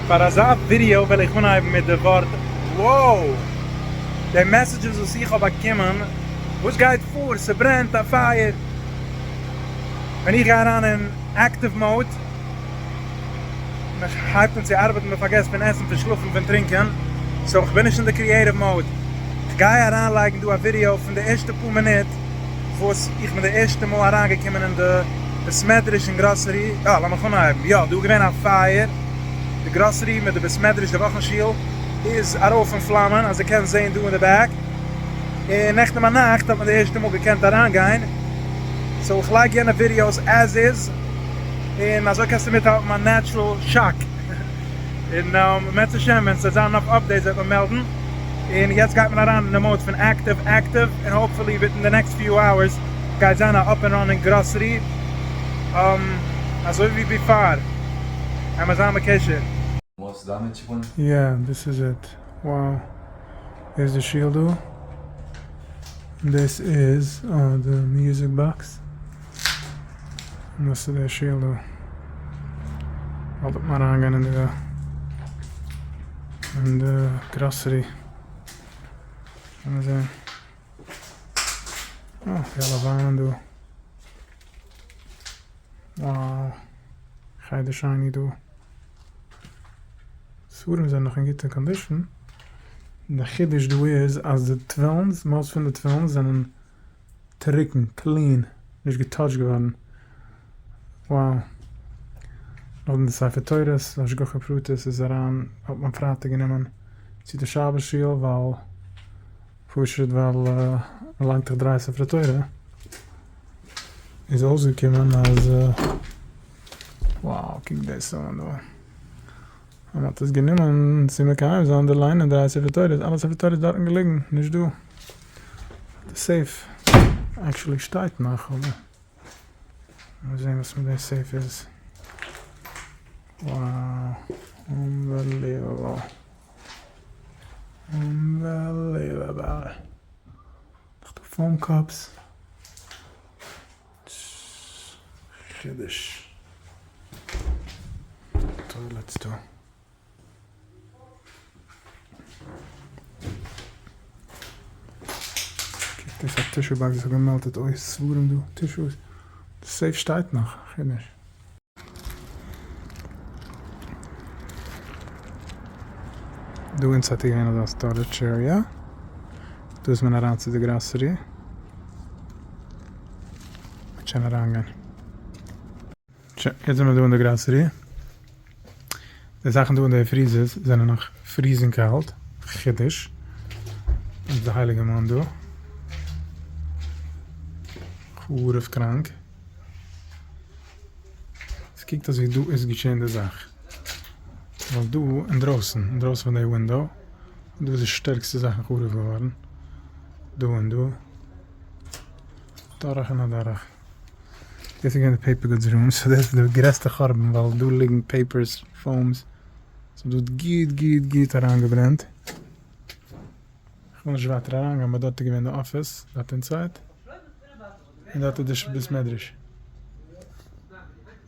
פאר אזא ווידעא וועל איך אנהייבן מיט די ווארט wow! די מעסעדזשעס וואס איך האב באקומען, וואס גייט פאר? ס'ברענט א פייער! ווען איך גיי אריין אין עקטיוו מאוד, מ'הייבט אן צו ארבעטן, מ'פארגעסט פון עסן, פון שלאפן, פון טרינקען, סאו כ'בין נישט אין די קריעטיוו מאוד, כ'גיי אריינלייגן דא א ווידעא פון די ערשטע פאר מינוט, וואס איך בין די ערשטע מאל אריינגעקומען אין די בית מדרש און גראסערי, אה לאמיך אנהייבן, יא דא איז געווען א פייער, די גראסערי מיט די בית מדרש די וואכן שול איז ארויף אין פלאמען אז די קענסט זעהן דא אין די בעק, און נעכטן ביינאכט האט מען די ערשטע מאל געקענט אריינגיין, סאו איך לייג יענע ווידיאוס עז איז, און אזוי קענסטו מיטהאלטן מיין נעטשרעל שאק. און בעזהשי ת ווען ס'וועט זיין נאך אפדעיטס וועט מען מעלדן, און יעצט גייט מען אריין אין די מאוד פון עקטיוו עקטיוו, און האופפולי וויטין די נעקסט פיו אווערס גייט זיין א אפ ענד ראנינג גראסערי, אזוי ווי ביפאר, עמער זיין בקשר. יא דאס איז איט. וואו איז די שול דא? דאס איז די מיוזיק באקס. און דאס איז דער שיעל דא. באלד וועט מען אריינגיין אין די אין די גראסערי. קען מען זען. אה, די אלע וויינען דא. וואו. חדר שני דא. ספרים זענען נאך אין גוטע קאנדישן. דער חידוש דא איז אז די טווילנס, מאז פון די טווילנס זענען. טרוקן, קלין, נישט געטאטשט געווארן, wow, נאכדעם די ספר תורות, השגחה פרטית איז אריין, האט מען פרייטאג גענומען צו די שבת שול ווייל פשוט ווייל מען ליינט דאך דריי ספרי תורה, איז אויסגעקומען אז wow קוק דאס אן דא, אז מען האט עס גענומען צו מקיים זיין די ליינען דריי ספרי תורות, אלע ספרי תורות דארטן געליגן, נישט דא. די סעיף עקשעלי שטייט נאך אבער מיר זעהן וואס מיט די סעיף איז וואו אנבעליוועבל אנבעליוועבל נאך די פאון קאפס חידוש טוילעטס דא. דאס א טישו באקס וואס האט געמעלטעט אויס ספרים דא, טישוס, די סעיף שטייט נאך, כ'נישט. דא אונז האט געווען אזא סטארעדזש עריע, דא איז מען אריין צו די גראסערי, מ'האט שוין אריינגיין. שוין, יעצט זעמער דא אין די גראסערי. די זאכן דא אין די פריזערס זענען נאך פריזינג קאלט, חידוש. וואס איז די הייליגע מאן דא? חרוב קראנק. עס קוקט אויס ווי דא איז געשען די זאך. ווייל דא אינדרויסן, אינדרויסן פון די ווינדאו, דא איז די שטערקסטע זאכן חרוב געווארן. דא און דא. דורך און אדורך. דאס איז געווען די פעיפער גודס רום, סאו דאס איז די גרעסטע חורבן ווייל דא ליגן פעיפערס, פאומס, ס'האט דארט גוט גוט גוט אריינגעברענט, כ'וויל נישט ווייטער אריינגיין באט דארט איז געווען די אפיס דארט אינסייד, און דארט איז די בית מדרש.